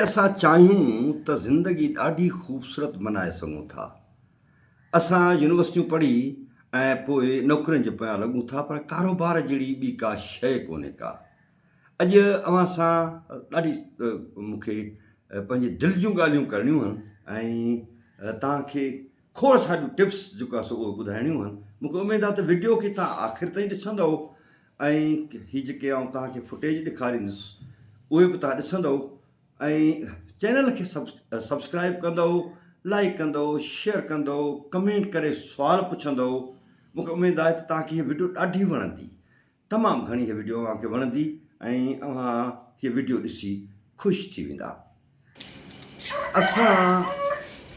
اسان چاهيون ته زندگي ڏاڍي خوبصورت بنائي سگهون ٿا. اسان يونيورسٽيون پڙهي ۽ پوء نوڪرين جي پويان لڳون ٿا پر ڪاروبار جهڙي ٻي ڪا شيء ڪونهي ڪا. اڄ اوهان سان ڏاڍي مون کي پنهنجي دل جون ڳالهيون ڪرڻيون هن ۽ توهان کي کوڙ ساريون ٽپس جيڪو آهي سو اهي ٻڌائڻيون هن. مون کي اميد آهي ته وڊيو کي توهان آخر تائين ڏسندؤ. ۽ هي جيڪي آئون توهان کي فوٽيج ڏيکاريندس اهي به توهان ڏسندؤ ۽ چينل کي سبسڪرائب ڪندؤ لائڪ ڪندؤ شيئر ڪندؤ ڪمينٽ ڪري سوال پڇندؤ مون کي اميد آهي ته توهان کي هي ويڊيو ڏاڍي وڻندي تمام گهڻي هي ويڊيو اوهان کي وڻندي ۽ اوهان هي ويڊيو ڏسي خوش ٿي ويندا اسان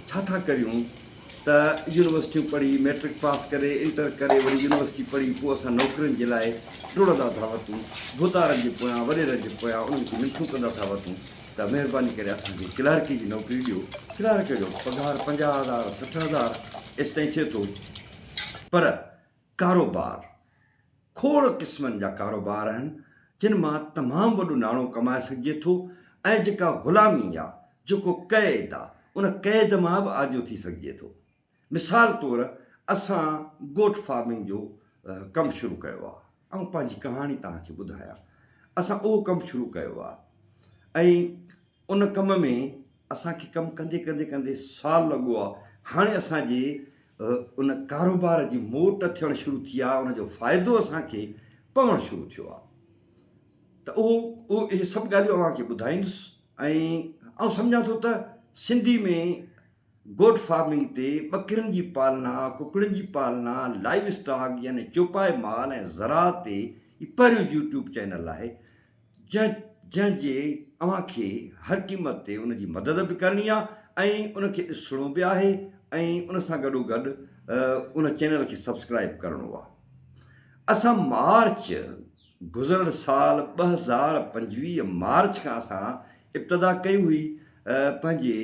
ڇا ٿا ڪريون ته يونيورسٽيون پڙهي ميٽرڪ پاس ڪري انٽر ڪري وري يونيورسٽي پڙهي پوء اسان نوڪرين جي لاء ڊوڙندا ٿا وتون ڀوتارن جي پويان وريرن جي پويان انهن کي منٿون ڪندا ٿا وتون ته مهرباني ڪري اسان کي ڪلارڪي جي نوڪري ڏيو ڪلارڪ جو پگهار پنجاهه هزار سٺ هزار ايستائين ٿئي ٿو پر ڪاروبار کوڙ قسمن جا ڪاروبار آهن جن مان تمام وڏو ناڻو ڪمائي سگهجي ٿو ۽ جيڪا غلامي آ، جيڪو قيد آ، ان قيد مان به آجو ٿي سگهجي ٿو. مثال طور اسان گوٽ فارمنگ جو ڪم شروع ڪيو آ. آئون پنهنجي ڪهاڻي توهان کي ٻڌايان. اسان اهو ڪم شروع ڪيو آ ۽ ان ڪم ۾ اسان کي ڪم ڪندي ڪندي ڪندي سال لڳو آ هاڻي اسان جي ان ڪاروبار جي موٽ ٿيڻ شروع ٿي آ ان جو فائدو اسان کي پوڻ شروع ٿيو آ ته اهو اهو اهي سڀ ڳالهيون اوهان کي ٻڌائيندس ۽ آئون سمجهان ٿو ته سنڌي ۾ گوٽ فارمنگ تي ٻڪرين جي پالنا ڪڪڙين جي پالنا لائيو اسٽاڪ يعني چوپائي مال ۽ زراعت تي پهريون يوٽيوب چينل آهي جنهن جنهن جي اوهان کي هر قيمت تي ان جي مدد به ڪرڻي آهي ۽ ان کي ڏسڻو به آهي ۽ ان سان گڏو گڏ ان چينل کي سبسڪرائيب ڪرڻو آهي اسان مارچ گذريل سال ٻه هزار پنجويهه مارچ کان اسان ابتدا ڪئي هئي پنهنجي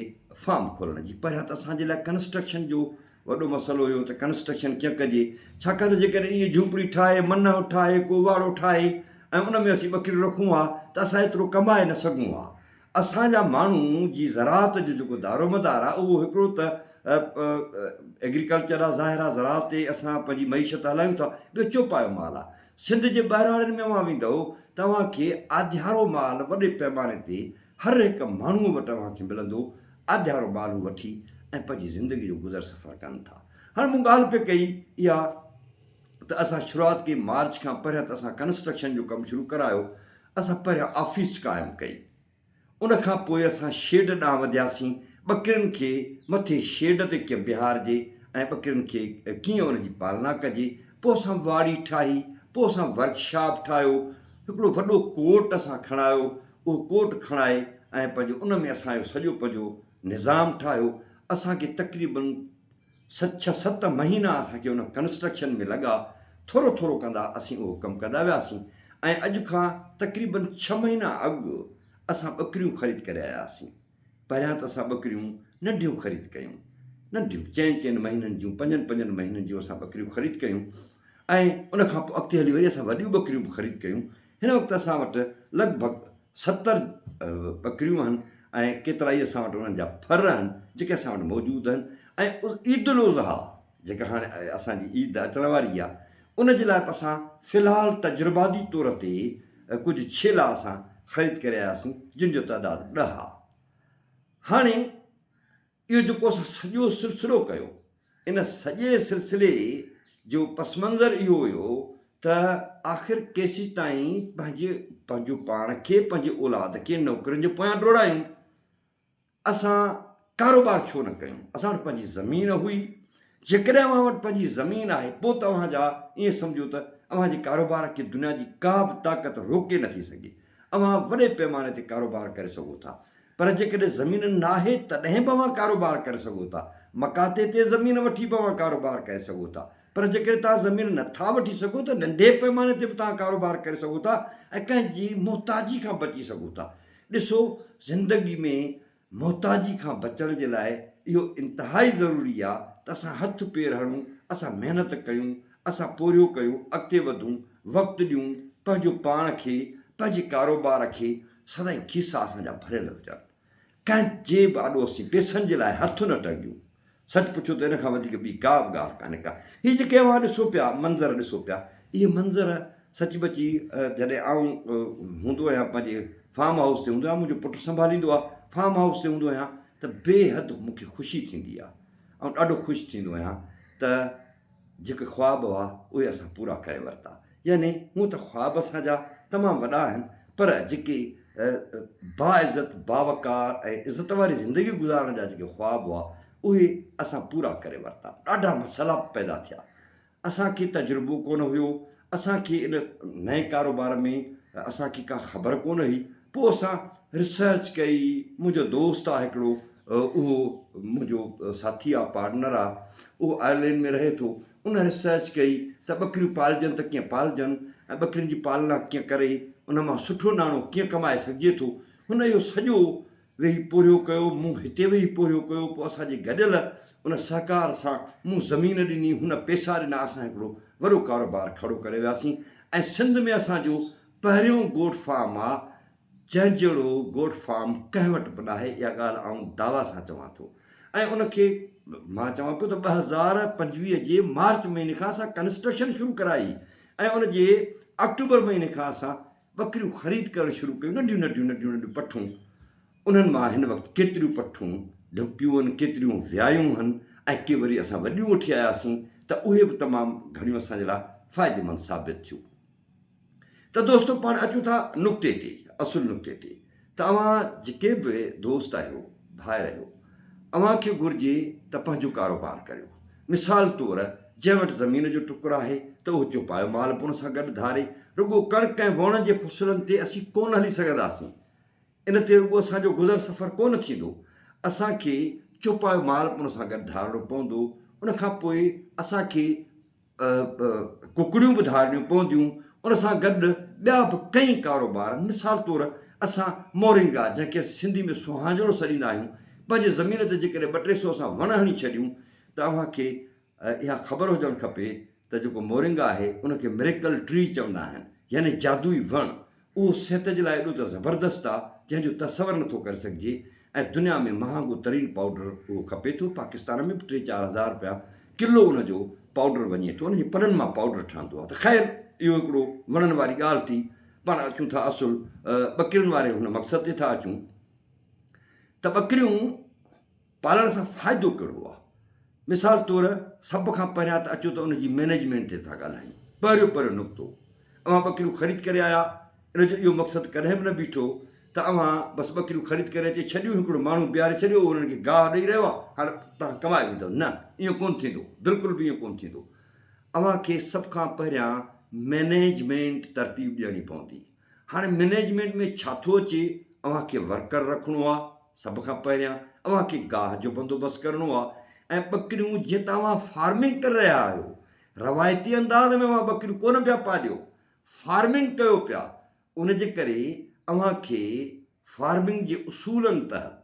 فارم کولڻ جي پهريان ته اسان جي لاء ڪنسٽرڪشن جو وڏو مسئلو اهو ته ڪنسٽرڪشن ڪيئن ڪجي، ڇاڪاڻ ته جيڪڏهن ايئن جهونپڙي ٺاهي، منهه ٺاهي، ڪو واڙو ٺاهي ۽ ان ۾ اسين ٻڪريون رکون ها ته اسان ايترو ڪمائي نه سگهون ها. اسان جا ماڻهو جي زراعت جو جيڪو دارومدار آهي اهو هڪڙو ته ايگريڪلچر آهي، ظاهر آهي زراعت تي اسان پنهنجي معيشت هلايون ٿا، ٻيو چوپايو مال آهي. سنڌ جي ٻهراڙين ۾ اوهان ويندؤ ته اوهان کي آڌيارو مال وڏي پيماني تي هر هڪ ماڻهوء وٽ اوهان کي ملندو آڌيارو ٻارڙو وٺي ۽ پنهنجي زندگي جو گذر سفر ڪن ٿا. هاڻ مون ڳالهه پئي ڪئي اها ته اسان شروعات ڪئي مارچ کان پهريان ته اسان ڪنسٽرڪشن جو ڪم شروع ڪرايو اسان پهريان آفيس قائم ڪئي ان کان پوء اسان شيڊ ڏانهن وڌياسين ٻڪرين کي مٿي شيڊ تي ڪيئن بيهارجي ۽ ٻڪرين کي ڪيئن ان جي پالنا ڪجي پوء اسان واڙي ٺاهي پوء اسان ورڪشاپ ٺاهيو هڪڙو وڏو ڪورٽ اسان کڻايو اهو ڪوٽ کڻائي ۽ پنهنجو ان ۾ اسان جو سڄو پنهنجو نظام ٺاهيو. اسان کي تقريبن ست ڇهه ست مهينا اسان کي ان ڪنسٽرڪشن ۾ لڳا. ٿورو ٿورو ڪندا اسين اهو ڪم ڪندا وياسين ۽ اڄ کان تقريبن ڇهه مهينا اڳ اسان ٻڪريون خريد ڪري آيا هئاسين. پهريان ته اسان ٻڪريون ننڍيون خريد ڪيون. ننڍيون چئن چئن مهينن جون پنجن پنجن مهينن جون اسان ٻڪريون خريد ڪيون ۽ ان کان پوء اڳتي هلي وري اسان وڏيون ٻڪريون به خريد ڪيون. هن وقت اسان وٽ لڳ ڀڳ ستر ٻڪريون آهن ۽ ڪيترائي اسان وٽ انهن جا ڦر آهن جيڪي اسان وٽ موجود آهن ۽ عيدالاضحيٰ جيڪا هاڻي اسان جي عيد اچڻ واري آهي ان جي لاء به اسان في الحال تجرباتي طور تي ڪجهه ڇيلا اسان خريد ڪري آياسين جن جو تعداد ڏهه آهي هاڻي اهو جيڪو اسان سڄو سلسلو ڪيو ان سڄي سلسلي جو پس منظر اهو هيو ته آخر ڪيسين تائين پنهنجي پنهنجو پاڻ کي پنهنجي اولاد کي نوڪرين جي پويان ڊوڙايون اسان ڪاروبار ڇو نه ڪيون اسان وٽ پنهنجي زمين هئي جيڪڏهن اوهان وٽ پنهنجي زمين آهي پوء ته اوهان جا ائين سمجهو ته اوهان جي ڪاروبار کي دنيا جي ڪا به طاقت روڪي نٿي سگهي اوهان وڏي پيماني تي ڪاروبار ڪري سگهو ٿا پر جيڪڏهن زمين ناهي تڏهن به اوهان ڪاروبار ڪري سگهو ٿا. مڪاتي تي زمين وٺي به اوهان ڪاروبار ڪري سگهو ٿا. پر جيڪڏهن توهان زمين نه ٿا وٺي سگهو ته ننڍي پئماني تي به توهان ڪاروبار ڪري سگهو ٿا ۽ ڪنهن جي محتاجي کان بچي سگهو ٿا. ڏسو زندگي ۾ محتاجي کان بچڻ جي لاء اهو انتهائي ضروري آهي ته اسان هٿ پير هڻون، اسان محنت ڪيون، اسان پورهيو ڪيون، اڳتي وڌون، وقت ڏيون، پنهنجو پاڻ کي، پنهنجي ڪاروبار کي، سدائين کيسا اسان جا ڀريل هجن. ڪنهن جي به آڏو اسين پيسن جي لاء هٿ نه ٽنگيون. سچ پڇو ته ان کان وڌيڪ ٻي ڪا به ڳالهه ڪانهي ڪا. هي جيڪي اوهان ڏسو پيا، منظر ڏسو پيا، اهي منظر سچ پچ ئي جڏهن آئون هوندو آهيان پنهنجي فارم هائوس تي هوندو آهيان، منهنجو پٽ سنڀاليندو آهي، فارم هائوس تي هوندو آهيان ته بي حد مون کي خوشي ٿيندي آهي. آئون ڏاڍو خوش ٿيندو آهيان ته. جيڪي خواب هئا اهي اسان پورا ڪري ورتا يعني هونء ته خواب اسان جا تمام وڏا آهن پر جيڪي باعزت باوقار ۽ عزت واري زندگي گذارڻ جا جيڪي خواب هئا اهي اسان پورا ڪري ورتا ڏاڍا مسئلا پيدا ٿيا اسان کي تجربو ڪونه هيو اسان کي ان نئين ڪاروبار ۾ اسان کي ڪا خبر ڪونه هئي پوء اسان ريسرچ ڪئي منهنجو دوست آ هڪڙو اهو منهنجو ساٿي آ پارٽنر آ اهو آئرلينڊ ۾ رهي ٿو ان ريسرچ ڪئي ته ٻڪريون پالجن ته ڪيئن پالجن ۽ ٻڪرين جي پالنا ڪيئن ڪري ان مان سٺو ناڻو ڪيئن ڪمائي سگهجي ٿو هن اهو سڄو ويهي پورهيو ڪيو مون هتي ويهي پورهيو ڪيو پوء اسان جي گڏيل ان سهڪار سان مون زمين ڏني هن پيسا ڏنا اسان هڪڙو وڏو ڪاروبار کڙو ڪري وياسين ۽ سنڌ ۾ اسان جو پهريون گوٽ فارم آ، جنهن جهڙو گوٽ فارم ڪنهن وٽ به ناهي، اها ڳالهه آئون دعويٰ سان چوان ٿو ۽ ان کي مان چوان پيو ته ٻه هزار پنجويهه جي مارچ مهيني کان اسان ڪنسٽرڪشن شروع ڪرائي ۽ ان جي آڪٽوبر مهيني کان اسان ٻڪريون خريد ڪرڻ شروع ڪيون، ننڍيون ننڍيون ننڍيون ننڍيون پٺون، انهن مان هن وقت ڪيتريون پٺون ڍڪيون هن، ڪيتريون ويايون هن ۽ ڪي وري اسان وڏيون وٺي آياسين ته اهي به تمام گهڻيون اسان جي لاء فائديمند ثابت ٿيون. ته دوستو پاڻ اچون ٿا نقطي تي اصل نقطي تي ته اوهان جيڪي به دوست آهيو ڀائر آهيو اوهان کي گهرجي ته پنهنجو ڪاروبار ڪريو مثال طور جنهن وٽ زمين جو ٽڪر آهي ته اهو چوپايو مال پڻ سان گڏ ڌاري رڳو ڪڻڪ ۽ ووڻ جي فصلن تي اسين ڪونه هلي سگهنداسين ان تي رڳو اسان جو گذر سفر ڪونه ٿيندو اسان کي چوپايو مال پڻ سان گڏ ڌارڻو پوندو ان کان پوء اسان کي ڪڪڙيون به ڌارڻيون پونديون، ان سان گڏ ٻيا به ڪئين ڪاروبار، مثال طور اسان مورنگا جنهن کي اسين سنڌي ۾ سهانجڻو سڏيندا آهيون، پنهنجي زمين تي جيڪڏهن ٻه ٽي سئو اسان وڻ هڻي ڇڏيون ته اوهان کي اها خبر هجڻ کپي ته جيڪو مورنگا آهي ان کي Miracle Tree چوندا آهن يعني جادوئي وڻ، اهو صحت جي لاء ايڏو ته زبردست آ جنهن جو تصور نٿو ڪري سگهجي ۽ دنيا ۾ مهانگو ترين پائوڊر اهو کپي ٿو پاڪستان ۾ به ٽي چار هزار رپيا ڪلو ان جو پائوڊر وڃي ٿو ان جي پنن مان پائوڊر ٺهندو آ ته خير اهو هڪڙو وڻن واري ڳالهه ٿي پاڻ اچون ٿا اصل ٻڪرين واري هن مقصد تي ٿا اچون ته ٻڪريون پالڻ سان فائدو ڪهڙو آ؟ مثال طور سڀ کان پهريان ته اچو ته ان جي مينيجمينٽ تي ٿا ڳالهايون. پهريون پهريون نقطو اوهان ٻڪريون خريد ڪري آيا ان جو اهو مقصد ڪڏهن به نه بيٺو ته اوهان بس ٻڪريون خريد ڪري اچي ڇڏيون هڪڙو ماڻهو بيهاري ڇڏيو اهو انهن کي گاهه ڏئي رهيو آ هاڻي توهان ڪمائي ويندؤ نه اهو ڪونه ٿيندو بلڪل به اهو ڪونه ٿيندو اوهان کي سڀ کان پهريان مينيجمينٽ ترتيب ڏيڻي پوندي هاڻي مئنيجمينٽ ۾ ڇا ٿو اچي، اوهان کي ورڪر رکڻو آ، سڀ کان پهريان اوهان کي گاهه جو بندوبست ڪرڻو آ ۽ ٻڪريون جيئن ته اوهان فارمنگ ڪري رهيا آهيو، روايتي انداز ۾ اوهان ٻڪريون ڪونه پيا پاليو، فارمنگ ڪيو پيا، ان جي ڪري اوهان کي فارمنگ جي اصولن تحت.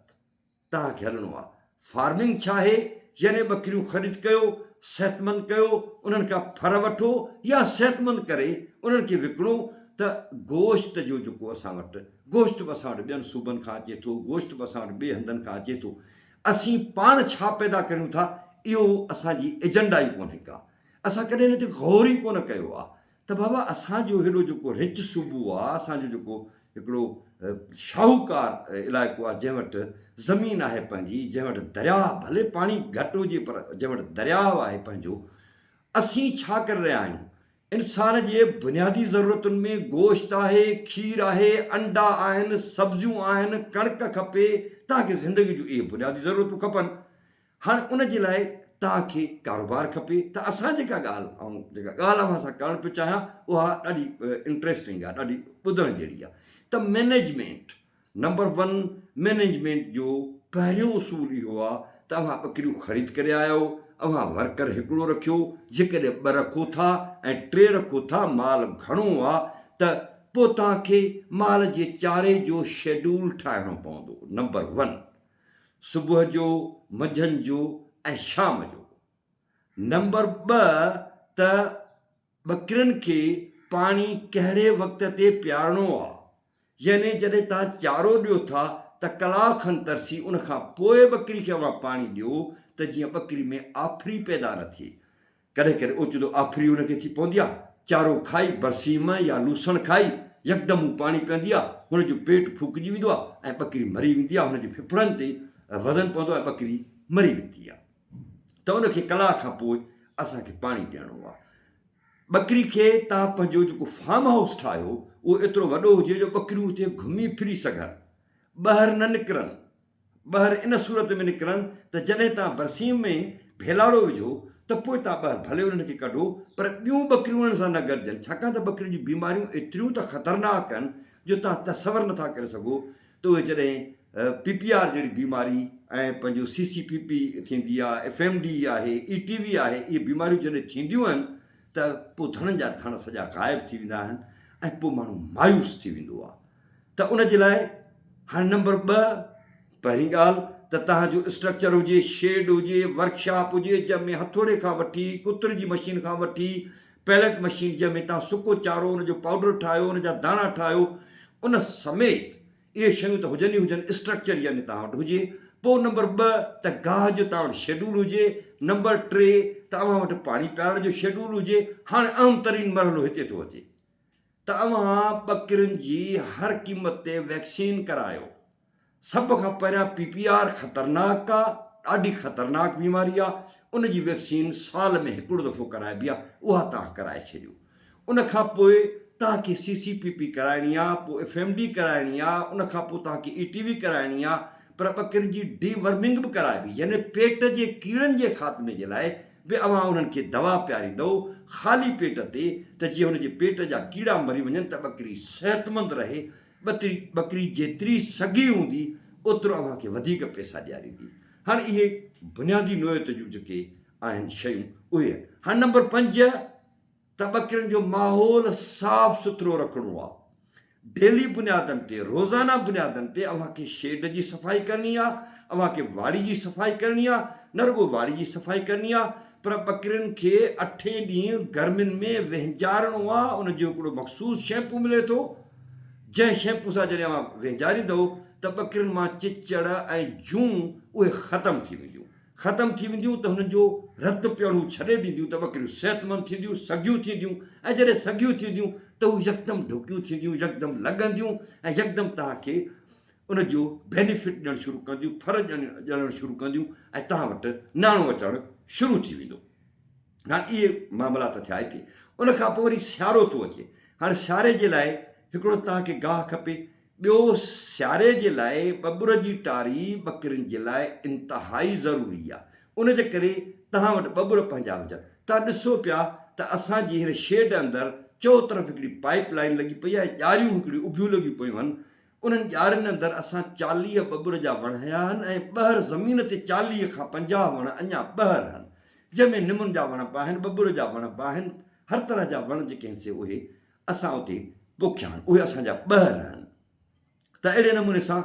توهان کي هلڻو آهي فارمنگ ڇا آهي يعني ٻڪريون خريد ڪيو صحتمند ڪيو انهن کان ڦر وٺو يا صحتمند ڪري انهن کي وڪڻو ته گوشت جو جيڪو اسان وٽ گوشت به اسان وٽ ٻين صوبن کان اچي ٿو گوشت به اسان وٽ ٻي هنڌن کان اچي ٿو اسين پاڻ ڇا پيدا ڪريون ٿا اهو اسان جي ايجنڊا ئي ڪونهي ڪا اسان ڪڏهن ان تي غور ئي ڪونه ڪيو آهي ته بابا اسان جو هيڏو جيڪو رچ صوبو آ، اسان جو جيڪو هڪڙو شاهوڪار علائقو آ، جنهن وٽ زمين آهي پنهنجي، جنهن وٽ درياء ڀلي پاڻي گهٽ هجي پر جنهن وٽ درياء آهي پنهنجو، اسين ڇا ڪري رهيا آهيون؟ انسان جي بنيادي ضرورتن ۾ گوشت آهي، کير آهي، انڊا آهن، سبزيون آهن، ڪڻڪ کپي، تهان کي زندگي جون اهي بنيادي ضرورتون کپن. هاڻي ان جي لاء توهان کي ڪاروبار کپي ته اسان جيڪا ڳالهه آئون جيڪا ڳالهه اوهان سان ڪرڻ پيو چاهيان اها ڏاڍي انٽريسٽنگ آهي ڏاڍي ٻڌڻ جهڙي آهي ته مينيجمينٽ نمبر ون مينيجمينٽ جو پهريون اصول اهو آهي ته اوهان ٻڪريون خريد ڪري آيا آهو اوهان ورڪر هڪڙو رکيو جيڪڏهن ٻه رکو ٿا ۽ ٽي رکو ٿا مال گهڻو آهي ته پوء توهان کي مال جي چاري جو شيڊول ٺاهڻو پوندو نمبر ون صبح جو، منجهند جو ۽ شام جو. نمبر ٻه ته ٻڪرين کي پاڻي ڪهڙي وقت تي پيارڻو آ. يعني جڏهن توهان چارو ڏيو ٿا ته ڪلاڪ کن ترسي ان کان پوء ٻڪري کي اوهان پاڻي ڏيو ته جيئن ٻڪري ۾ آڦري پيدا نه ٿئي. ڪڏهن ڪڏهن اوچتو آڦري هن کي ٿي پوندي آ. چارو کائي، برسيم يا لوسڻ کائي، يڪدم هو پاڻي پيئندي آ. هن جو پيٽ ڦوڪجي ويندو آ ۽ ٻڪري مري ويندي آ. هن جي ڦڦڙن تي وزن پوندو آ ۽ ٻڪري مري ويندي آ. ته ان کي ڪلاڪ کان پوء اسان کي پاڻي ڏيڻو آ. ٻڪري کي توهان پنهنجو جيڪو فارم هائوس ٺاهيو، اهو ايترو وڏو هجي جو ٻڪريون اتي گهمي ڦري سگهن، ٻاهر نه نڪرن، ٻهر ان صورت ۾ نڪرن ته جڏهن تان برسيم ۾ ڀيلاڙو وجهو ته پوء تان ٻهر ڀلي انهن کي ڪڍو پر ٻيون ٻڪريون انهن سان نه گڏجن ڇاڪاڻ ته ٻڪرين جون بيماريون ايتريون ته خطرناڪ آهن جو تان تصور نٿا ڪري سگهو ته اهي جڏهن پي پي آر جهڙي بيماري ۽ پنهنجو سي سي پي پي ٿيندي آهي ايف ايم ڊي آهي اي ٽي وي آهي اهي بيماريون جڏهن ٿينديون آهن ته پوء ڌڻن جا ڌڻ سڄا غائب ٿي ويندا آهن ۽ پوء ماڻهو مايوس ٿي ويندو آهي ته ان جي لاء هاڻي نمبر ٻه پهرين ڳالهه ته تهان جو اسٽرڪچر هجي، شيڊ هجي، ورڪ شاپ هجي جنهن ۾ هٿوڙي کان وٺي ڪتر جي مشين کان وٺي پيلٽ مشين جنهن ۾ تهان سڪو چارو ان جو پائوڊر ٺاهيو ان جا داڻا ٺاهيو ان سميت اهي شيون ته هجن ئي هجن اسٽرڪچر يعني تهان وٽ هجي پوء نمبر ٻه ته گاهه جو تهان وٽ شيڊول هجي نمبر ٽي ته اوهان وٽ پاڻي پيارڻ جو شيڊول هجي هاڻي اهم ترين مرحلو هتي ٿو اچي ته اوهان ٻڪرين جي هر قيمت تي ويڪسين ڪرايو. سڀ کان پهريان پي پي آر خطرناڪ آ، ڏاڍي خطرناڪ بيماري آ، ان جي ويڪسين سال ۾ هڪڙو دفعو ڪرائبي آ، اها توهان ڪرائي ڇڏيو. ان کان پوء توهان کي سي سي پي پي ڪرائڻي آ، پوء ايف ايم ڊي ڪرائڻي آ، ان کان پوء توهان کي اي ٽي وي ڪرائڻي آ، پر ٻڪرين جي ڊي ورمنگ به ڪرائبي يعني پيٽ جي ڪيڙن جي خاتمي جي لاء به اوهان انهن کي دوا پياريندؤ خالي پيٽ تي ته جيئن هن جي پيٽ جا ڪيڙا مري وڃن ته ٻڪري صحتمند رهي، ٻڪري ٻڪري جيتري سگهي هوندي اوترو اوهان کي وڌيڪ پئسا ڏياريندي. هاڻ اهي بنيادي نوعيت جون جيڪي آهن شيون اهي هاڻ نمبر پنج. ته ٻڪرين جو ماحول صاف سٿرو رکڻو آ، ڊيلي بنيادن تي، روزانه بنيادن تي اوهان کي شيڊ جي صفائي ڪرڻي آ، اوهان کي واڙي جي صفائي ڪرڻي آ، نه رڳو واڙي جي صفائي ڪرڻي آ پر ٻڪرين کي اٺين ڏينهن گرمين ۾ وهنجارڻو آ، ان جو هڪڙو مخصوص شيمپو ملي ٿو، جنهن شيمپو سان جڏهن اوهان وهنجاريندؤ ته ٻڪرين مان چچڙ ۽ جون اهي ختم ٿي وينديون. ختم ٿي وينديون ته هنن جو رت پيئڻو ڇڏي ڏينديون ته ٻڪريون صحتمند ٿينديون، سگهيون ٿينديون ۽ جڏهن سگهيون ٿينديون ته هو يڪدم ڍڪيون ٿينديون، يڪدم لڳنديون ۽ يڪدم توهان کي ان جو بينيفٽ ڏيڻ شروع ڪنديون، ڦر ڄڻڻ شروع ڪنديون ۽ توهان وٽ ناڻو اچڻ شروع ٿي ويندو. هاڻ اهي معاملا ته ٿيا هتي. ان کان پوء وري سيارو ٿو اچي. هاڻ سياري جي لاء هڪڙو توهان کي گاهه کپي، ٻيو سياري جي لاء ٻٻر جي ٽاري ٻڪرين جي لاء انتهائي ضروري آ ان جي ڪري توهان وٽ ٻٻر پنهنجا هجن توهان ڏسو پيا ته اسان جي هن شيڊ اندر چئو طرف هڪڙي پائيپ لائين لڳي پئي آهي ڄاريون هڪڙيون اڀيون لڳيون پيون هن انهن ڄارين اندر اسان چاليهه ٻٻر جا وڻ هنيا هن ۽ ٻهر زمين تي چاليهه کان پنجاهه وڻ اڃا ٻهر هن جنهن ۾ نمن جا وڻ به آهن ٻٻر جا وڻ به آهن هر طرح جا وڻ جيڪي هن سي اهي اسان اتي پوکيا آهن، اهي اسان جا ٻهر آهن ته اهڙي نموني سان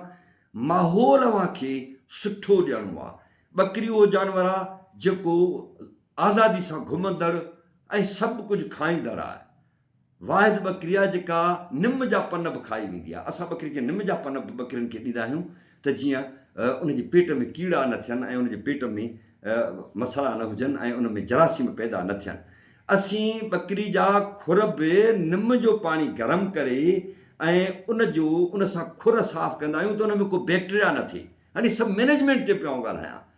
ماحول اوهان کي سٺو ڏيڻو آهي. ٻڪري اهو جانور آهي جيڪو آزادي سان گهمندڙ ۽ سڀ ڪجهه کائيندڙ آهي. واحد ٻڪري آهي جيڪا نم جا پن به کائي ويندي آهي. اسان ٻڪري کي نم جا پن به ٻڪرين کي ڏيندا آهيون. ته جيئن ان جي پيٽ ۾ ڪيڙا نه ٿين ۽ ان جي پيٽ ۾ مسئلا نه هجن ۽ ان ۾ جراثيم پيدا نه ٿين. اسين ٻڪري جا کر به نم جو پاڻي گرم ڪري ۽ ان جو ان سان کر صاف ڪندا آهيون ته ان ۾ ڪو بيڪٽريا نه ٿئي. هاڻي سڀ مينيجمينٽ تي پيو آئون ڳالهايان.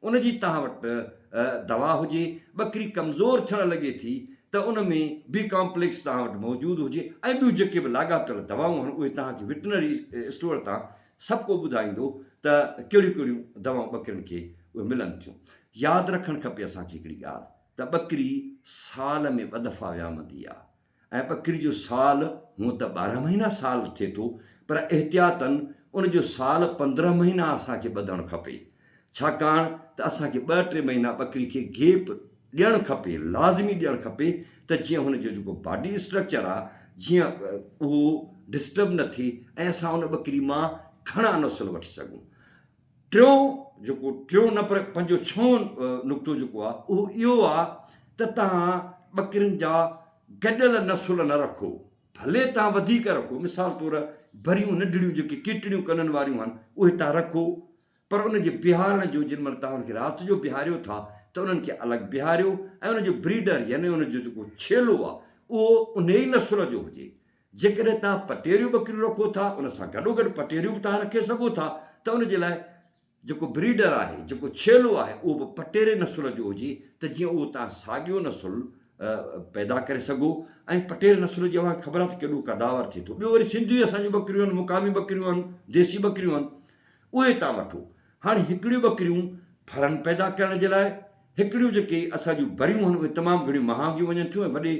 ان جي توهان وٽ دوا هجي، ٻڪري ڪمزور ٿيڻ لڳي ٿي ته ان ۾ بي ڪامپليڪس توهان وٽ موجود هجي ۽ ٻيون جيڪي به لاڳاپيل دوائون آهن اهي توهان کي وٽنري اسٽور تان سڀ ڪو ٻڌائيندو ته ڪهڙيون ڪهڙيون دوائون ٻڪرين کي اهي ملن ٿيون. ياد رکڻ کپي اسان کي هڪڙي ڳالهه ته ٻڪري سال ۾ ٻه دفعا ويامندي آهي. ۽ ٻڪري جو سال هونء ته ٻارهن مهينا سال ٿئي ٿو پر احتياطاً ان جو سال پندرهن مهينا اسان کي ٻڌڻ کپي ڇاڪاڻ ته اسان کي ٻه ٽي مهينا ٻڪري کي گيپ ڏيڻ کپي لازمي ڏيڻ کپي ته جيئن هن جو جيڪو باڊي اسٽرڪچر آ جيئن اهو ڊسٽرب نه ٿئي ۽ اسان ان ٻڪري مان گهڻا نسل وٺي سگهون ٽيون جيڪو ٽيون نه پر پنهنجو ڇهون نقطو جيڪو آ اهو اهو آ ته توهان ٻڪرين جا گڏيل نسل نه رکو ڀلي توهان وڌيڪ رکو مثال طور بريون ننڍڙيون جيڪي ڪيٽڙيون ڪنن واريون آهن اهي توهان رکو پر ان جي بيهارڻ جو جن مهل توهان کي رات جو بيهاريو ٿا ته انهن کي الڳ بيهاريو ۽ ان جو بريڊر يعني ان جو جيڪو ڇيلو آ اهو انهي نسل جو هجي جيڪڏهن توهان پٽيريون ٻڪريون رکو ٿا ان سان گڏوگڏ پٽيريون به توهان رکي سگهو ٿا ته ان جي لاء جيڪو بريڊر آهي جيڪو ڇيلو آهي اهو به پٽيري نسل جو هجي ته جيئن اهو توهان ساڳيو نسل پيدا ڪري سگهو ۽ پٽيري نسل جي اوهان کي خبر آهي ته ڪيڏو قداور ٿئي ٿو ٻيو وري سنڌي اسان جون ٻڪريون آهن مقامي ٻڪريون آهن ديسي ٻڪريون آهن اهي توهان وٺو هاڻي هڪڙيون ٻڪريون ڦرن پيدا ڪرڻ جي لاء هڪڙيون جيڪي اسان جون بريون آهن اهي تمام گهڻيون مهانگيون وڃن ٿيون ۽ وڏي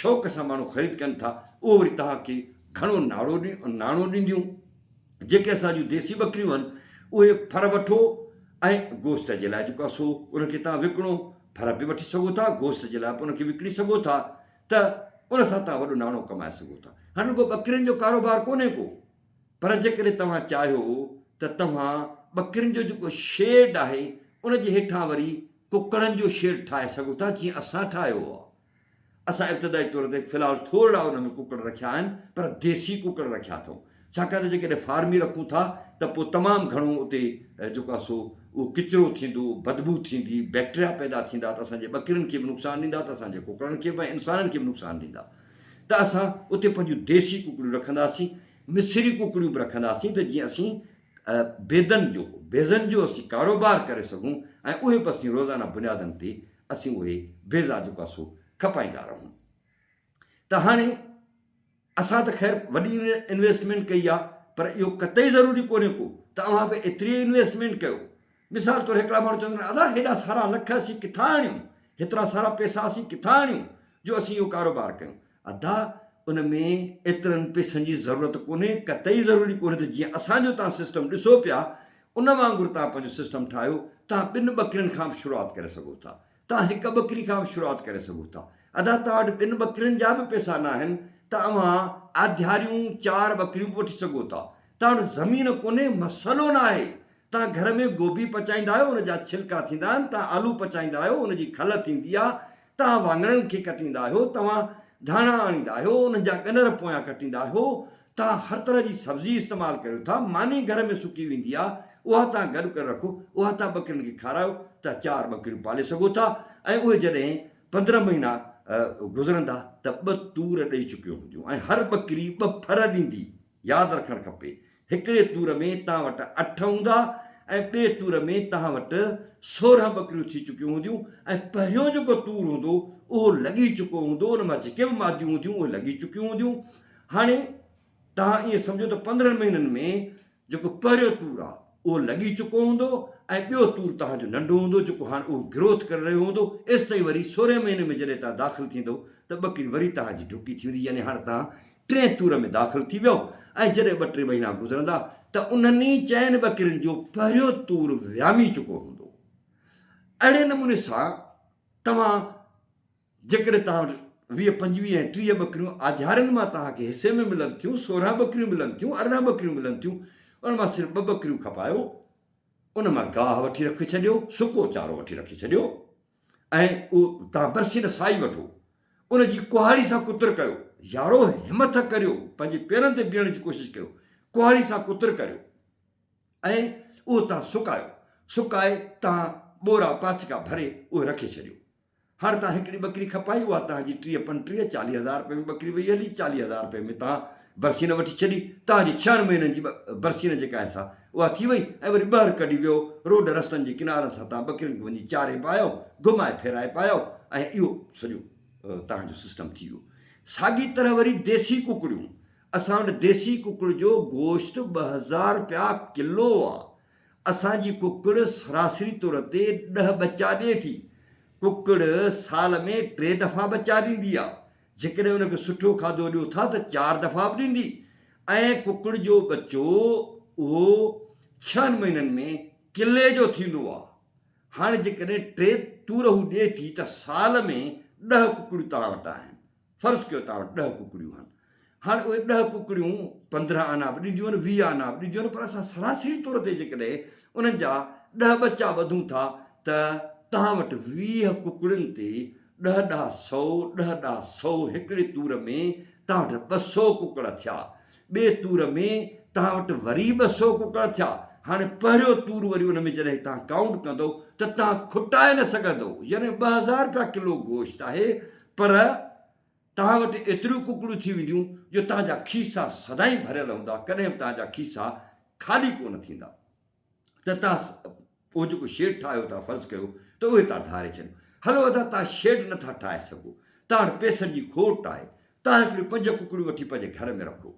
شوق سان ماڻهو خريد ڪن ٿا اهو وري توهان کي گهڻو ناڙو ناڻو ڏينديون جيڪي اسان جون ديسي ٻڪريون آهن اهي ڦر وٺو ۽ گوشت جي لاء جيڪو اسو ان کي توهان وڪڻو ڦر به وٺي سگهو ٿا گوشت جي لاء به ان کي وڪڻي سگهو ٿا ته ان سان توهان وڏو ناڻو ڪمائي سگهو ٿا هاڻي رڳو ٻڪرين جو ڪاروبار ڪونهي ڪو پر جيڪڏهن توهان چاهيو ته توهان ٻڪرين جو جيڪو شيڊ آهي ان جي هيٺان وري ڪڪڙن جو شيڊ ٺاهي سگهو ٿا جيئن اسان ٺاهيو آهي. اسان ابتدائي طور تي في الحال ٿورڙا ان ۾ ڪڪڙ رکيا آهن پر ديسي ڪڪڙ رکيا اٿئون ڇاڪاڻ ته جيڪڏهن فارمي رکون ٿا ته پوء تمام گهڻو اتي جيڪو آهي سو اهو ڪچرو ٿيندو، بدبو ٿيندي، بيڪٽريا پيدا ٿيندا ته اسان جي ٻڪرين کي به نقصان ڏيندا ته اسان جي ڪڪڙن کي به ۽ انسانن کي به نقصان ڏيندا. ته اسان اتي پنهنجون ديسي ڪڪڙيون رکنداسين، مصري ڪڪڙيون به رکنداسين ته جيئن اسين بيضن جو، بيضن جو اسين ڪاروبار ڪري سگهون ۽ اهي به اسين روزانه بنيادن تي اسين اهي بيضا جيڪو آهي سو کپائيندا رهون ته هاڻي اسان ته خير وڏي انويسٽمينٽ ڪئي آهي پر اهو قطعي ضروري ڪونهي ڪو ته اوهان به ايتري انويسٽمينٽ ڪيو مثال طور هڪڙا ماڻهو چوندن ادا هيڏا سارا لک اسين ڪٿان آڻيون، هيترا سارا پئسا اسين ڪٿان آڻيون جو اسين اهو ڪاروبار ڪيون. ادا ان ۾ ايترن پئسن جي ضرورت ڪونهي، قطعي ضروري ڪونهي ته جيئن اسان جو توهان سسٽم ڏسو پيا ان وانگر توهان پنهنجو سسٽم ٺاهيو، توهان ٻن ٻڪرين کان به شروعات ڪري سگهو ٿا، توهان هڪ ٻڪري کان به شروعات ڪري سگهو ٿا. ادا توهان وٽ ٻن ٻڪرين جا به پئسا ناهن ته اوهان آڌياريون چار ٻڪريون به وٺي سگهو ٿا. توهان وٽ زمين ڪونهي مسئلو ناهي. توهان گهر ۾ گوبي پچائيندا آهيو ان جا ڇلڪا ٿيندا آهن، توهان آلو پچائيندا آهيو ان جي کل ٿيندي آهي، توهان واڱڻن کي ڪٽيندا آهيو، توهان ڌاڻا آڻيندا آهيو انهن جا ڳنر پويان ڪٽيندا آهيو، توهان هر طرح جي سبزي استعمال ڪريو ٿا، ماني گهر ۾ سڪي ويندي آهي، اها توهان گڏ ڪري رکو، اها توهان ٻڪرين کي کارايو ته چار ٻڪريون پالي سگهو ٿا ۽ اهي جڏهن پندرهن مهينا گذرندا ته ٻه تور ڏئي چڪيون هونديون ۽ هر ٻڪري ٻه ڦر ڏيندي. ياد رکڻ کپي هڪڙي تور ۾ توهان وٽ اٺ هوندا ۽ ٻئي تور ۾ توهان وٽ سورهن ٻڪريون ٿي چڪيون هونديون ۽ پهريون جيڪو تور هوندو اهو لڳي چڪو هوندو، ان مان جيڪي به ماديون هونديون اهي لڳي چڪيون هونديون. هاڻي توهان ائين سمجهو ته پندرهن مهينن ۾ جيڪو پهريون تور آهي اهو لڳي چڪو هوندو ۽ ٻيو تور توهان جو ننڍو هوندو جيڪو هاڻ اهو گروٿ ڪري رهيو هوندو ايستائين وري سورهين مهيني ۾ جڏهن توهان داخل ٿيندو ته ٻڪري وري توهان جي ڍڪي ٿيندي يعني هاڻ توهان ٽئين تور ۾ داخل ٿي ويئو ۽ جڏهن ٻه ٽي مهينا گذرندا ته انهن ئي چئن ٻڪرين جو پهريون تور ويامي چڪو هوندو اهڙي نموني سان توهان جيڪڏهن توهان وٽ ويهه، پنجويهه ۽ ٽيهه ٻڪريون آڌيارين مان توهان کي حصي ۾ ملن ٿيون، سورهن ٻڪريون ملن ٿيون، ارڙهن ٻڪريون ملن ٿيون، ان مان صرف ٻه ٻڪريون کپايو، ان مان گاهه وٺي رکي ڇڏيو، سڪو چارو وٺي رکي ڇڏيو ۽ اهو توهان برسي نه سائي وٺو، ان جي ڪهاڙي سان ڪتر ڪريو، يارو همٿ ڪريو، پنهنجي پيرن تي بيهڻ جي ڪوشش ڪريو، ڪهاڙي سان ڪتر ڪريو ۽ اهو توهان سڪايو، سڪائي توهان ٻورا پاڇڪا ڀري اهي رکي ڇڏيو. هاڻ تان هڪڙي ٻڪري کپائي اها تان جي ٽيهه پنٽيهه چاليهه هزار رپين ۾ ٻڪري ويئي هلي چاليهه هزار رپين ۾ تان برسين وٺي ڇڏي تان جي ڇهن مهينن جي برسين جيڪا هيس ها اها ٿي وئي ۽ وري ٻهر ڪڍي ويو روڊ رستن جي ڪنارن سان تان ٻڪرين کي وڃي چاري پايو گهمائي ڦيرائي پايو ۽ اهو سڄو تان جو سسٽم ٿي ويو ساڳي طرح وري ديسي ڪڪڙيون اسان وٽ ديسي ڪڪڙ جو گوشت ٻه هزار رپيا ڪلو آ اسان جي ڪڪڙ سراسري طور تي ڏهه ٻچا ڏي ٿي. ڪڪڙ سال ۾ ٽي دفعا ٻچا ڏيندي آهي. جيڪڏهن ان کي سٺو کاڌو ڏيو ٿا ته چار دفعا به ڏيندي ۽ ڪڪڙ جو ٻچو اهو ڇهن مهينن ۾ ڪلي جو ٿيندو آهي. هاڻ جيڪڏهن ٽي تورهون ڏي ٿي ته سال ۾ ڏهه ڪڪڙيون توهان وٽ آهن. فرض ڪيو توهان وٽ ڏهه ڪڪڙيون آهن هاڻي اهي ڏهه ڪڪڙيون پندرهن آنا به ڏينديون آهن ويهه آنا به ڏينديون آهن پر اسان سراسري طور تي جيڪڏهن انهن جا ڏهه ٻچا ٻڌون ٿا ته توهان وٽ ويهه ڪڪڙين تي ڏهه ڏهه سؤ ڏهه ڏهه سؤ هڪڙي تور ۾ توهان وٽ ٻه سؤ ڪڪڙ ٿيا ٻئي تور ۾ توهان وٽ وري ٻه سؤ ڪڪڙ ٿيا هاڻي پهريون تور وري ان ۾ جڏهن توهان ڪائونٽ ڪندو ته توهان کٽائي نه سگهندو يعني ٻه هزار رپيا ڪلو گوشت آهي پر توهان وٽ ايتريون ڪڪڙون ٿي وينديون جو توهان جا کيسا سدائين ڀريل هوندا، ڪڏهن به توهان جا کيسا خالي ڪو نه ٿيندا ته توهان اهو جيڪو شيڊ ٺاهيو ٿا فرض ڪيو ته اهي توهان ڌاري ڇڏيو. هلو ادا توهان شيڊ نه ٿا ٺاهي سگهو، توهان وٽ پئسن جي کوٽ آهي، توهان هڪڙيون پنج ڪڪڙيون وٺي پنهنجي گهر ۾ رکو،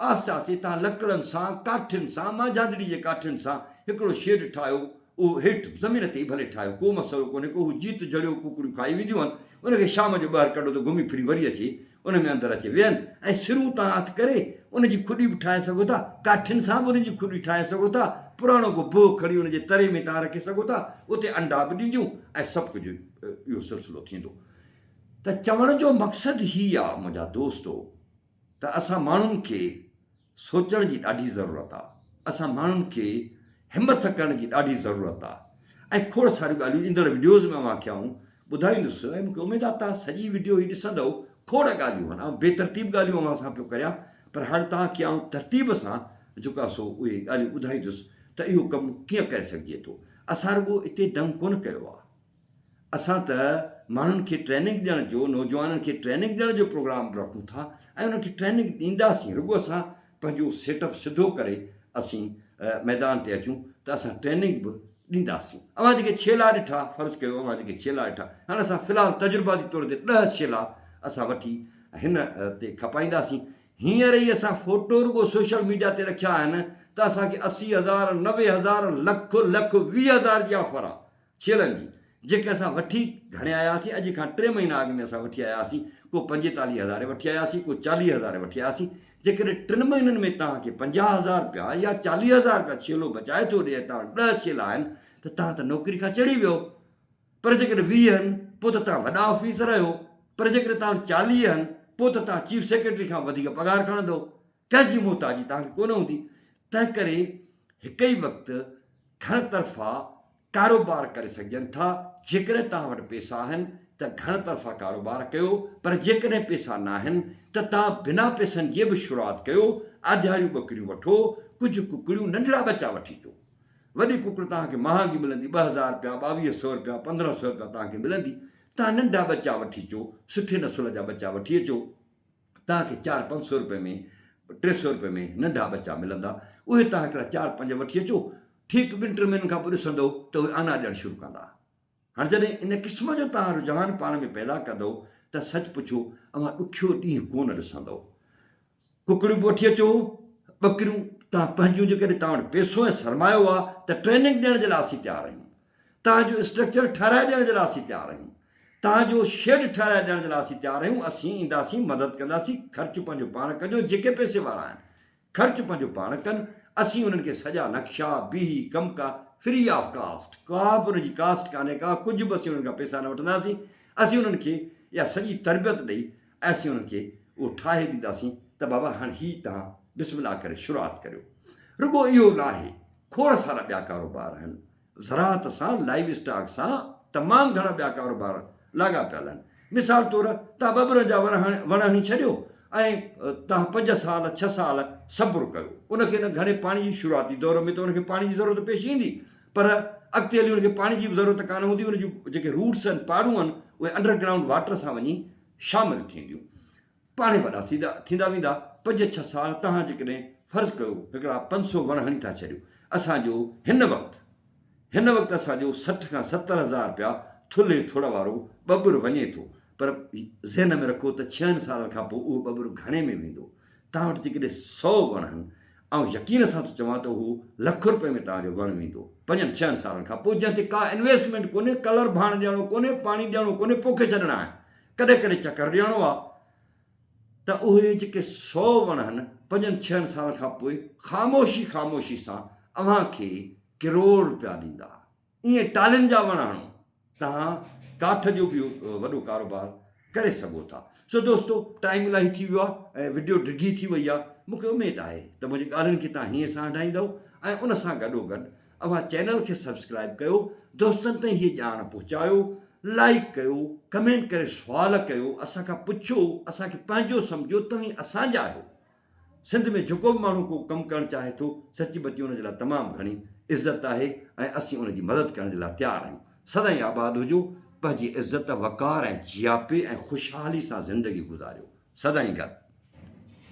آهستي آهستي تان لڪڙن سان، ڪاٺين سان، مانجهاندڙي جي ڪاٺين سان هڪڙو شيڊ ٺاهيو، اهو هيٺ زمين تي ئي ڀلي ٺاهيو، ڪو مسئلو ڪونهي ڪو، هو جيت جهڙيو ڪوڪڙيون کائي وينديون هن، ان کي شام جو ٻاهر ڪڍو ته گهمي ڦري وري اچي ان ۾ اندر اچي ويهن ۽ سرون تان هٿ ڪري ان جي کڏي به ٺاهي سگهو ٿا، ڪاٺين سان به ان جي کڏي ٺاهي سگهو ٿا، پراڻو ڪو بهه کڻي ان جي تري ۾ تان رکي سگهو ٿا، اتي انڊا به ڏينديون ۽ سڀ ڪجهه اهو سلسلو ٿيندو ته چوڻ جو مقصد هي آ منهنجا دوستو! ته اسان ماڻهن کي سوچڻ جي ڏاڍي ضرورت آ، اسان ماڻهن کي همٿ ڪرڻ جي ڏاڍي ضرورت آ ۽ کوڙ ساريون ڳالهيون ايندڙ وڊيوز ۾ اوهان کي آئون ٻڌائيندس ۽ مونکي اميد آ توهان سڄي وڊيو هي ڏسندؤ کوڙ ڳالهيون هن آئون بي ترتيب ڳالهيون اوهان سان پيو ڪريان پر هاڻ توهان کي آئون ترتيب سان جيڪو آ سو اهي ڳالهيون ٻڌائيندس ته اهو ڪم ڪيئن ڪري سگهجي ٿو اسان رڳو اتي دنگ ڪونه ڪيو آ اسان ته ماڻهن کي ٽريننگ ڏيڻ جو نوجوانن کي ٽريننگ ڏيڻ جو پروگرام رکون ٿا ۽ انهن کي ٽريننگ ڏينداسين رڳو اسان پنهنجو سيٽ اپ سڌو ڪري اسين ميدان تي اچون ته اسان ٽريننگ به ڏينداسين اوهان جيڪي ڇيلا ڏٺا فرض ڪيو اوهان جيڪي ڇيلا ڏٺا هاڻي اسان في الحال تجرباتي طور تي ڏهه ڇيلا اسان وٺي هن تي کپائينداسين هينئر ئي اسان فوٽو رڳو سوشل ميڊيا تي رکيا آهن ته اسان کي اسي هزار نوي هزار لک لک ويهه هزار جي آفر آ ڇيلن جي، جيڪي اسان وٺي گهڻي آياسين، اڄ کان ٽي مهينا اڳ ۾ اسان وٺي آياسين، ڪو پنجيتاليهه هزارين وٺي آياسين، ڪو چاليهه هزارين وٺي آياسين، جيڪڏهن ٽن مهينن ۾ توهان کي پنجاهه هزار رپيا يا چاليهه هزار رپيا ڇيلو بچائي ٿو ڏئي ۽ توهان وٽ ڏهه ڇيلا آهن ته توهان ته نوڪري کان چڙهي ويو، پر جيڪڏهن ويهه هن پوء ته توهان وڏا آفيسر آهيو، پر جيڪڏهن توهان وٽ چاليهه هن پوء ته توهان چيف سيڪريٽري کان به وڌيڪ پگهار کڻندؤ، ڪنهن جي محتاجي توهان کي ڪونه هوندي تنهن ڪري هڪ ئي وقت گهڻ طرفا ڪاروبار ڪري سگهجن ٿا جيڪڏهن توهان وٽ پيسا آهن ته گهڻ طرفا ڪاروبار ڪيو پر جيڪڏهن پيسا ناهن ته توهان بنا پيسن جي به شروعات ڪيو آڌياريون ٻڪريون وٺو ڪجهه ڪڪڙيون ننڍڙا ٻچا وٺي اچو وڏي ڪڪڙ توهان کي مهانگي ملندي ٻه هزار رپيا ٻاويهه سو رپيا پندرهن سو رپيا توهان کي ملندي توهان ننڍا ٻچا وٺي اچو سٺي نسل جا ٻچا وٺي اچو توهان کي چار پنج سئو رپئي ۾ ٽي سئو رپئي ۾ ننڍا ٻچا ملندا، اهي توهان هڪڙا چار پنج وٺي اچو، ٺيڪ ٻن ٽن مهينن کان پوء ڏسندؤ ته اهي آنا ڏيڻ شروع ڪندا. هاڻ جڏهن ان قسم جو توهان رجحان پاڻ ۾ پيدا ڪندؤ ته سچ پڇو اوهان ڏکيو ڏينهن ڪو نه ڏسندؤ. ڪڪڙيون به وٺي اچو، ٻڪريون، توهان پنهنجيون جيڪڏهن توهان وٽ پئسو ۽ سرمايو آهي ته ٽريننگ ڏيڻ جي لاء اسين تيار آهيون. توهان جو اسٽرڪچر ٺهرائي ڏيڻ جي لاء اسين تيار آهيون، توهان جو شيڊ ٺهرائي ڏيڻ جي لاء اسين تيار آهيون، اسين اينداسين مدد ڪنداسين، خرچ پنهنجو پاڻ ڪجو، جيڪي پئسي وارا آهن خرچ پنهنجو پاڻ ڪن، اسين انهن کي سڄا نقشا، بيهي، ڪم ڪار فري آف ڪاسٽ، ڪا به ان جي ڪاسٽ ڪانهي ڪا ڪجهه به اسين انهن کان پئسا نه وٺنداسين، اسين انهن کي اها سڄي تربيت ڏئي ۽ اسين انهن کي اهو ٺاهي ڏينداسين ته بابا هاڻ هي توهان بسم الله ڪري شروعات ڪريو، رڳو اهو ناهي. کوڙ سارا ٻيا ڪاروبار آهن، زراعت سان، لائيو اسٽاڪ سان تمام گهڻا ٻيا ڪاروبار لاڳاپيل آهن. مثال طور توهان ٻٻرن جا وڻ هڻي ڇڏيو ۽ توهان پنج سال، ڇهه سال صبر ڪيو، ان کي نه گهڻي پاڻي جي شروعاتي دور ۾ ته ان کي پاڻي جي ضرورت پيش ايندي پر اڳتي هلي ان کي پاڻي جي به ضرورت ڪانه هوندي، ان جون جيڪي روٽس آهن، پاڙون آهن، اهي انڊر گرائونڊ واٽر سان وڃي شامل ٿينديون. پاڻهي وڏا ٿيندا ويندا، پنج ڇهه سال توهان جيڪڏهن فرض ڪيو هڪڙا پنج سو وڻ هڻي ٿا ڇڏيو، اسان جو هن وقت هن وقت اسان جو سٺ کان ستر هزار رپيا ٿلهي ٿڙ وارو ٻٻر وڃي ٿو، پر ذهن ۾ رکو ته ڇهن سالن کان پوء اهو ٻٻر گهڻي ۾ ويندو، توهان وٽ جيڪڏهن سؤ وڻ هن، آئون يقين سان ٿو چوان ته اهو لک رپين ۾ توهان جو وڻ ويندو، پنجن ڇهن سالن کان پوء، جنهن تي ڪا انويسٽمينٽ ڪونهي، ڪلر ڀاڻ ڏيڻو ڪونهي، پاڻي ڏيڻو ڪونهي، پوکي ڇڏڻا آهن. ڪڏهن ڪڏهن چڪر ڏيڻو آ ته اهي جيڪي سو وڻ هن پنجن ڇهن سالن کان پوء خاموشي خاموشي سان اوهان کي ڪروڙ روپيا ڏيندا. ايئن ٽالهين جا وڻ هڻو. توهان ڪاٺ جو به وڏو ڪاروبار ڪري سگهو ٿا. سو دوستو ٽائيم الاهي ٿي ويو آ ۽ وڊيو ڊگهي ٿي وئي آ. مون کي اميد آهي ته منهنجي ڳالهين کي توهان هيئن سان هنڊائيندؤ ۽ ان سان گڏو گڏ اوهان چينل کي سبسڪرائب ڪيو دوستن تائين هي ڄاڻ پهچايو لائيڪ ڪيو ڪمينٽ ڪري سوال ڪيو اسان کان پڇو اسان کي پنهنجو سمجهو توهين اسان جا آهيو سنڌ ۾ جيڪو به ماڻهو ڪو ڪم ڪرڻ چاهي ٿو سچي بچي ان جي لاء تمام گهڻي عزت آهي ۽ اسين ان جي مدد ڪرڻ جي لاء تيار آهيون سدائين آباد هجو پنهنجي عزت وقار ۽ جياپي ۽ خوشحالي سان زندگي گذاريو سدائين گڏ.